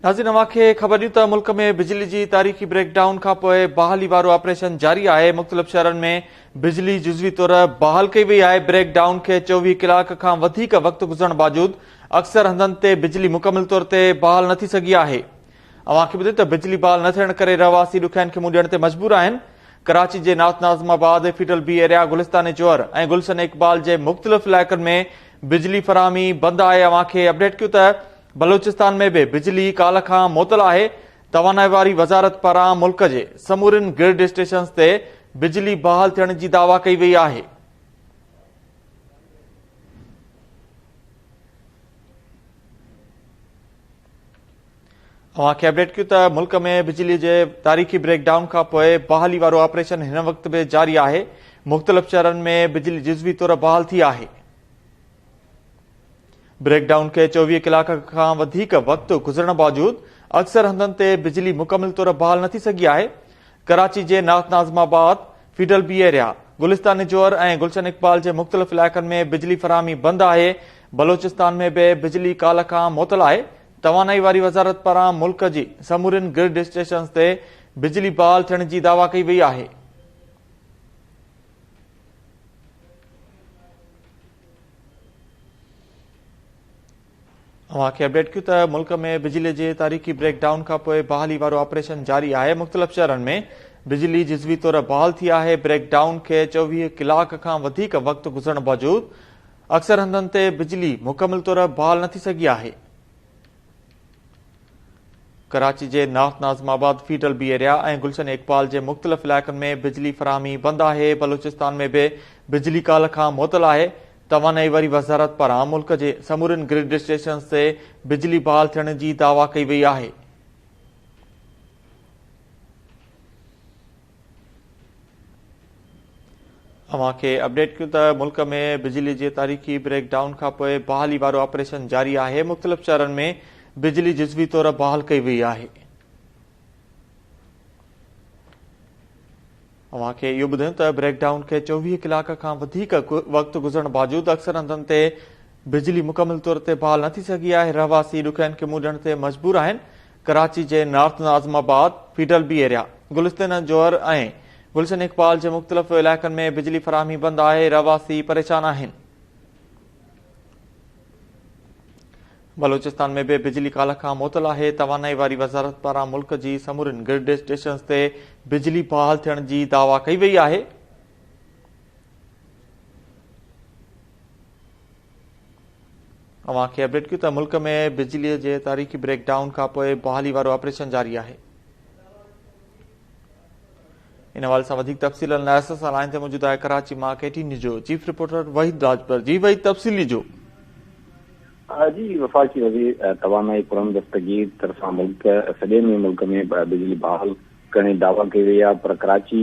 ناظرين اوهان کي خبر ڏيون ته ملڪ ۾ بجلي جي تاريخي بريڪ ڊائون کانپوء بحالي وارو آپريشن جاري آهي مختلف شهرن ۾ بجلي جزوي طور بحال ڪئي وئي آهي بريڪ ڊائون کي چوويهه ڪلاڪ کان وڌيڪ وقت گذرڻ باوجود اڪثر هنڌن تي بجلي مڪمل طور تي بحال نه ٿي سگهي آهي اوهان کي ٻڌي ته بجلي بحال نه ٿيڻ ڪري رهواسي ڏکيائين کي منهن ڏيڻ تي مجبور آهن ڪراچي جي ناٿ Nazimabad Fidel B area Gulistan Jauhar ۽ Gulshan Iqbal جي مختلف علائقن ۾ بجلي فراهمي بند آهي اوهان کي اپڊيٽ ڪيون ته بلوچستان ۾ به بجلي ڪالهه کان معطل آهي توانائي واري وزارت پاران ملڪ جي سمورين گرڊ اسٽيشنز تي بجلي بحال ٿيڻ جي دعويٰ ڪئي وئي آهي اوهان کي اپڊيٽ ڪيون ته ملڪ ۾ بجلي جي تاريخي بريڪ ڊائون کانپوء بحالي وارو آپريشن هن وقت به جاري آهي، مختلف شهرن ۾ بجلي جزوي طور بحال ٿي آهي. بريڪ ڊائون کي چوويهه ڪلاڪ کان وڌيڪ وقت گذرڻ باوجود اڪثر هنڌن تي بجلي مڪمل طور بحال نه ٿي سگهي آهي، ڪراچي جي north Nazimabad, Fidel B area, Gulistan Jauhar ۽ Gulshan Iqbal جي مختلف علائقن ۾ بجلي فراهمي بند آهي، بلوچستان ۾ به بجلي ڪالهه کان معطل آهي، توانائي واري وزارت پاران ملڪ جي سمورين گرڊ اسٽيشنز تي بجلي بحال ٿيڻ جي دعويٰ ڪئي وئي آهي. اوهان کي اپڊيٽ ڪيون ته ملڪ ۾ بجلي جي تاريخي بريڪ ڊائون کانپوء بحالي وارو آپريشن جاري آهي مختلف شهرن ۾ بجلي جزوي طور بحال ٿي آهي بريڪ ڊائون کي چوويهه ڪلاڪ کان وڌيڪ وقت گذرڻ باوجود اڪثر هنڌن تي بجلي مڪمل طور بحال نه ٿي سگهي آهي. ڪراچي جي north Nazimabad, Fidel B area ۽ Gulshan Iqbal جي مختلف علائقن ۾ بجلي فراهمي بند آهي، بلوچستان ۾ به بجلي ڪالهه کان معطل آهي، توانائي واري وزارت پاران ملڪ جي سمورين گرڊ اسٽيشنز تي بجلي بحال ٿيڻ جي دعويٰ ڪئي وئي آهي. اوهان کي اپڊيٽ ڪيون ته ملڪ ۾ بجلي جي تاريخي بريڪ ڊائون کانپوء بحالي وارو آپريشن جاري آهي، مختلف شهرن ۾ بجلي جزوي طور بحال ڪئي وئي آهي. اوهان کي اهو ٻڌايون ته بريڪ ڊائون کي چوويهه ڪلاڪ کان وڌيڪ وقت گذرڻ باوجود اڪثر هنڌن تي بجلي مڪمل طور تي بحال نه ٿي سگهي آهي، رهواسي ڏکيائين کي منهن ڏيڻ تي مجبور آهن، ڪراچي جي north Nazimabad, Fidel B area, Gulistan Jauhar ۽ Gulshan Iqbal جي مختلف علائقن ۾ بجلي فراهمي بند آهي، رهواسي پريشان آهن. بلوچستان ۾ به بجلي ڪالهه کان معطل آهي، توانائي واري وزارت پاران ملڪ جي سمورين گرڊ اسٽيشنز تي بجلي بحال ٿيڻ جي دعويٰ ڪئي وئي آهي، اوهان کي اپڊيٽ ڪيون ته ملڪ ۾ بجلي جي تاريخي بريڪ ڊائون کانپوء بحالي وارو آپريشن جاري آهي. ان حوالي سان وڌيڪ تفصيل لاء ايس ايس آر لائن تي موجود آهي ڪراچي مان ڪي ٽي نيوز جو چيف رپورٽر وحيد راجپر جي وحيد تفصيل ڏجو جي وفاقي وزير توانائي پرم دستگير طرفان ملڪ سڄي ۾ ملڪ ۾ بجلي بحال ڪرڻ جي دعويٰ ڪئي وئي آهي پر ڪراچي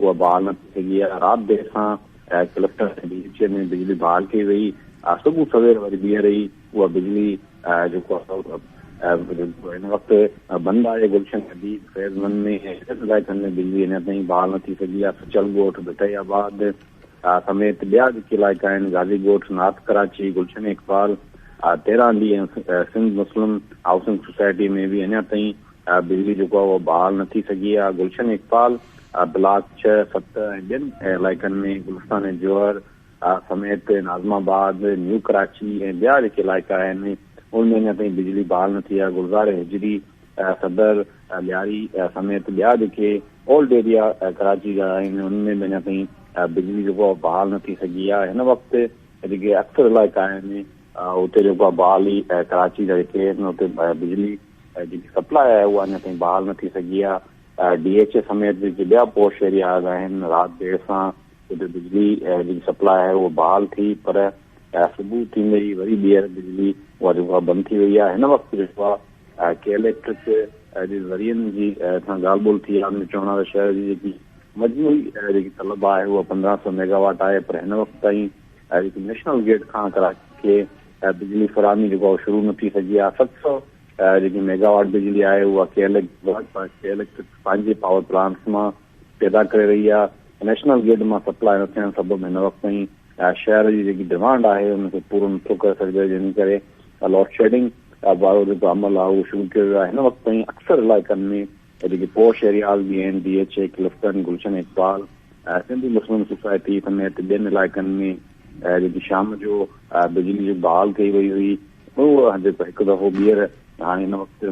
اها بحال نه ٿي سگهي آهي، رات دير سان ڪلفٽن ۽ ڊي ايڇ اي ۾ بجلي بحال ڪئي وئي، صبح سوير وري ٻيهر ئي اها بجلي جيڪو آهي هن وقت بند آهي، گلشن حديد، فيض مند ۾ ۽ ٻين علائقن ۾ بجلي اڃا تائين بحال نه ٿي سگهي آهي، سچل ڳوٺ، ڀٽائي آباد سميت ٻيا جيڪي علائقا آهن غازي ڳوٺ، نارٿ ڪراچي، گلشن اقبال، تيرانڊي ۽ سنڌ مسلم هائوسنگ سوسائٽي ۾ به اڃا تائين بجلي جيڪو آهي اهو بحال نه ٿي سگهي آهي، گلشن اقبال بلاڪ ڇهه، ست ۽ ٻين علائقن ۾ گلستان ۽ جوهر سميت ناظم آباد، نيو ڪراچي ۽ ٻيا جيڪي علائقا آهن ان ۾ اڃا تائين بجلي بحال نه ٿي آهي، گلزار هجري، صدر، لياري سميت ٻيا جيڪي اولڊ ايريا ڪراچي جا آهن ان ۾ به اڃا تائين بجلي جيڪو آهي بحال نه ٿي سگهي آهي، هن وقت جيڪي اڪثر علائقا آهن اتي جيڪو آهي بحالي ڪراچي جا جيڪي آهن اتي بجلي جيڪي سپلاء آهي اها اڃا تائين بحال نه ٿي سگهي آهي، ڊي ايڇ اي سميت جيڪي ٻيا پوش ايرياز آهن رات دير سان اتي بجلي جيڪي سپلاء آهي اها بحال ٿي پر صبح ٿيندي ئي وري ٻيهر بجلي اها جيڪو آهي بند ٿي وئي آهي هن وقت جيڪو آهي ڪي اليڪٽرڪ جي ذريعن جي سان ڳالهه ٻولهه ٿي آهي ان جو چوڻ آهي ته شهر جي جيڪي مجموعي جيڪي طلب آهي اها پندرهن سؤ ميگاواٽ آهي پر هن وقت تائين جيڪي نيشنل گرڊ کان ڪراچي کي بجلي فراهمي جيڪو آهي اهو شروع نه ٿي سگهي آهي، ست سؤ جيڪي ميگا واٽ بجلي آهي اها ڪي ايل ايڪٽرڪ پنهنجي پاور پلانٽس مان پيدا ڪري رهي آهي، نيشنل گرڊ مان سپلاء نه ٿيڻ سبب هن وقت تائين شهر جي جيڪي ڊمانڊ آهي ان کي پورو نه ٿو ڪري سگهجي جنهن ڪري لوڊشيڊنگ وارو جيڪو عمل آهي اهو شروع ڪيو ويو آهي، هن وقت تائين اڪثر علائقن ۾ ته جيڪي پوء شهري هال جي اين D H A Clifton, Gulshan Iqbal, Sindhi Muslim society سميت ٻين علائقن ۾ جيڪي شام جو بجلي جي بحال ڪئي وئي هئي اهو جيڪو هڪ دفعو ٻيهر هاڻي هن وقت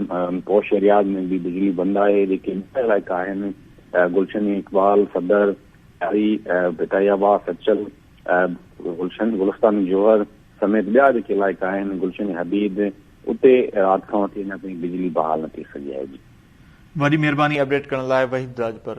پوء شهري هال ۾ به بجلي بند آهي جيڪي ٻيا علائقا آهن گلشن اقبال، صدر، چاري، ڀٽائي آباد، سچل، گلشن، گلستان جوهر سميت ٻيا جيڪي علائقا آهن گلشن حبيب، اتي رات کان وٺي اڃا تائين بجلي بحال نه ٿي سگهي آهي. وڏي مهرباني اپڊيٽ ڪرڻ لاء وحيد راڄپر.